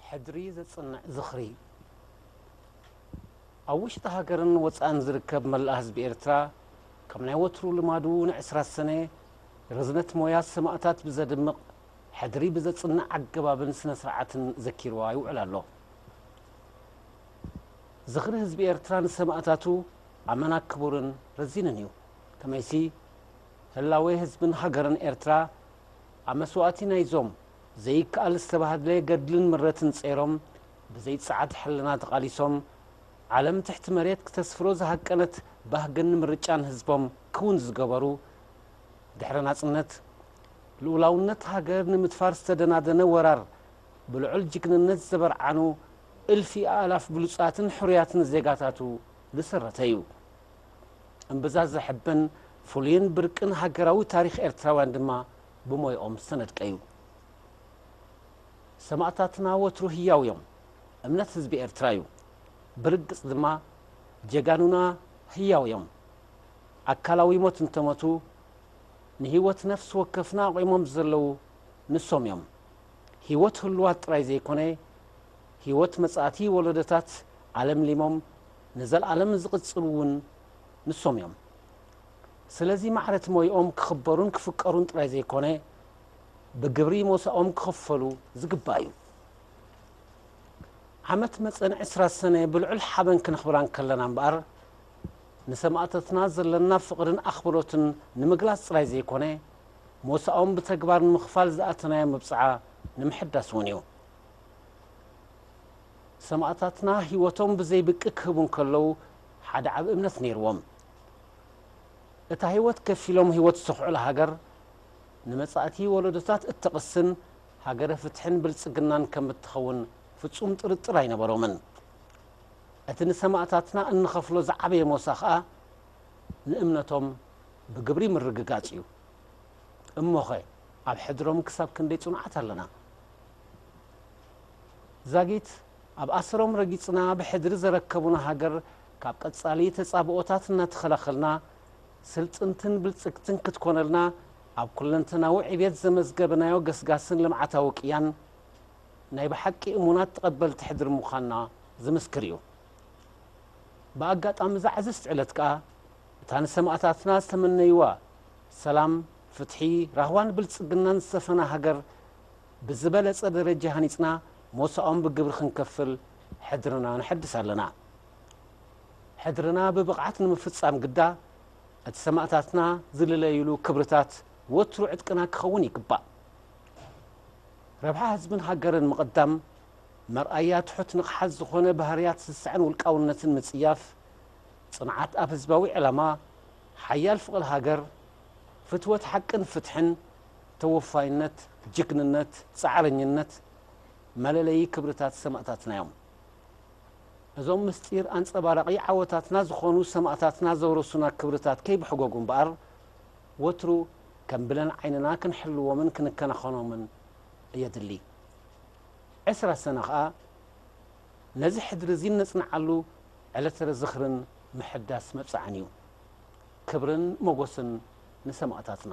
ሕድሪ ዘጽንዕ ዝኽሪ! ኣብ ውሽጢ ሃገርን ወጻእን ዝርከብ መላእ ህዝቢ ኤርትራ ከም ናይ ወትሩ ልማዱ ንዕስራ ሰነ ርዝነት ሞያ ሰማእታት ብዘድምቕ ሕድሪ ብዘጽንዕ ኣገባብን ስነ-ስርዓትን ዘኪርዋ ይውዕል ኣሎ። ዝኽሪ ህዝቢ ኤርትራ ንሰማእታቱ ኣመና ክቡርን ረዚንን እዩ። ከመይሲ፣ ህላዌ ህዝብን ሃገርን ኤርትራ ኣብ መስዋእቲ ናይዞም ዘይከኣል ዝተባህድለ ገድልን ምረትን ጸይሮም ብዘይ ጸዓት ሕልና ተቓሊሶም ዓለም ትሕቲ መሬት ክተስፍሮ ዝሃቀነት ባህግን ምርጫን ህዝቦም ክውን ዝገበሩ ድሕሪ ናጽነት ልኡላውነት ሃገር ንምድፋር ዝተደናደነ ወራር ብልዑል ጅግንነት ዘበርዓኑ እልፊ ኣእላፍ ብሉጻትን ሕሩያትን ዜጋታቱ ዝስረተ እዩ። እምብዛ ዘሕብን ፍሉይን ብርቅን ሃገራዊ ታሪኽ ኤርትራውያን ድማ ብሞይኦም ዝተነድቀ'ዩ። ሰማእታትና ወትሩ ህያው'ዮም። እምነት ህዝቢ ኤርትራ'ዩ። ብርግጽ ድማ ጀጋኑና ህያው'ዮም። ኣካላዊ ሞት እንተሞቱ፣ ንህይወት ነፍሲ ወከፍና ኣቝሞም ዘለዉ ንሶም'ዮም። ህይወት ህሉዋት ጥራይ ዘይኮነ፣ ህይወት መጻእቲ ወሎዶታት ኣለምሊሞም ንዘልኣለም ዝቕጽሉ እውን ንሶም እዮም። ስለዚ ማዕረት ሞይኦም ክኽበሩን ክፍቀሩን ጥራይ ዘይኮነ ብግብሪ ሞሳኦም ክኽፈሉ ዝግባእ እዩ። ዓመት መጸን ዕስራ ሰነ ብልዑል ሓበን ክነኽብራ እንከለና እምበኣር ንሰማእታትና ዘለና ፍቕርን ኣኽብሮትን ንምግላጽ ጥራይ ዘይኮነ ሞሳኦም ብተግባር ንምኽፋል ዝኣተናዮ መብጽዓ ንምሕዳስ እውን እዩ። ሰማእታትና ህይወቶም ብዘይ ብቂ ክህቡ እንከለዉ ሓደ ዓቢ እምነት ነይርዎም። እታ ህይወት ከፊሎም ህይወት ዝተኽዑላ ሃገር ንመጻእቲ ወለዶታት እትቕስን ሃገረ ፍትሕን ብልጽግናን ከም እትኸውን ፍጹም ጥርጥር ኣይነበሮምን። እቲ ንሰማእታትና እንኸፍሎ ዝዓበየ ሞሳ ከኣ ንእምነቶም ብግብሪ ምርግጋጽ እዩ። እሞኸ ኣብ ሕድሮም ክሳብ ክንደይ ጽኑዓት ኣለና? ዛጊት ኣብ ኣሰሮም ረጊጽና ብሕድሪ ዘረከቡና ሃገር ካብ ቀጻሊ ተጻብኦታት እናተኸላኸልና ስልጥንትን ብልጽግትን ክትኮነልና ኣብ ኩለንተናዊ ዕብየት ዘመዝገብናዮ ገስጋስን ልምዓታዊ ቅያን ናይ ብሓቂ እሙናት ተቐበልቲ ሕድሪ ምዃንና ዝምስክር እዩ። ብኣጋጣሚ እዛ ዕዝዝቲ ዕለት ከኣ እታ ንሰማእታትና ዝተመነይዋ ሰላም፣ ፍትሒ፣ ራህዋን ብልጽግናን ዝሰፈና ሃገር፣ ብዝበለጸ ደረጃ ሃኒጽና ሞሳኦም ብግብሪ ክንከፍል ሕድርና ነሐድስ ኣለና። ሕድርና ብብቕዓት ንምፍጻም ግዳ እቲ ሰማእታትና ዝልለዩሉ ክብርታት ወትሩ ዕጥቅና ክኸውን ይግባእ። ረብሓ ህዝብን ሃገርን ምቕዳም፣ መርኣያ ትሑት ንቕሓት ዝኾነ ባህርያት ስስዐን ውልቃውነትን ምጽያፍ፣ ጽንዓት ኣብ ህዝባዊ ዕላማ፣ ሓያል ፍቕሪ ሃገር፣ ፍትወት ሓቅን ፍትሕን፣ ተወፋይነት፣ ጅግንነት፣ ጻዕረኝነት መለለዪ ክብርታት ሰማእታትና'ዮም። እዞም ምስጢር ኣንጸባራቒ ዓወታትና ዝኾኑ ሰማእታትና ዘውረሱና ክብርታት ከይብሕጎጉ እምበኣር ወትሩ ከም ብለን ዓይንና ክንሕልዎምን ክንከናኸኖምን የድሊ። ዕስራ ሰነ ከኣ ነዚ ሕድሪ'ዚ እነጽንዓሉ ዕለተ ዝኽርን ምሕዳስ መብጽዓን'ዩ። ክብርን ሞጎስን ንሰማእታትና።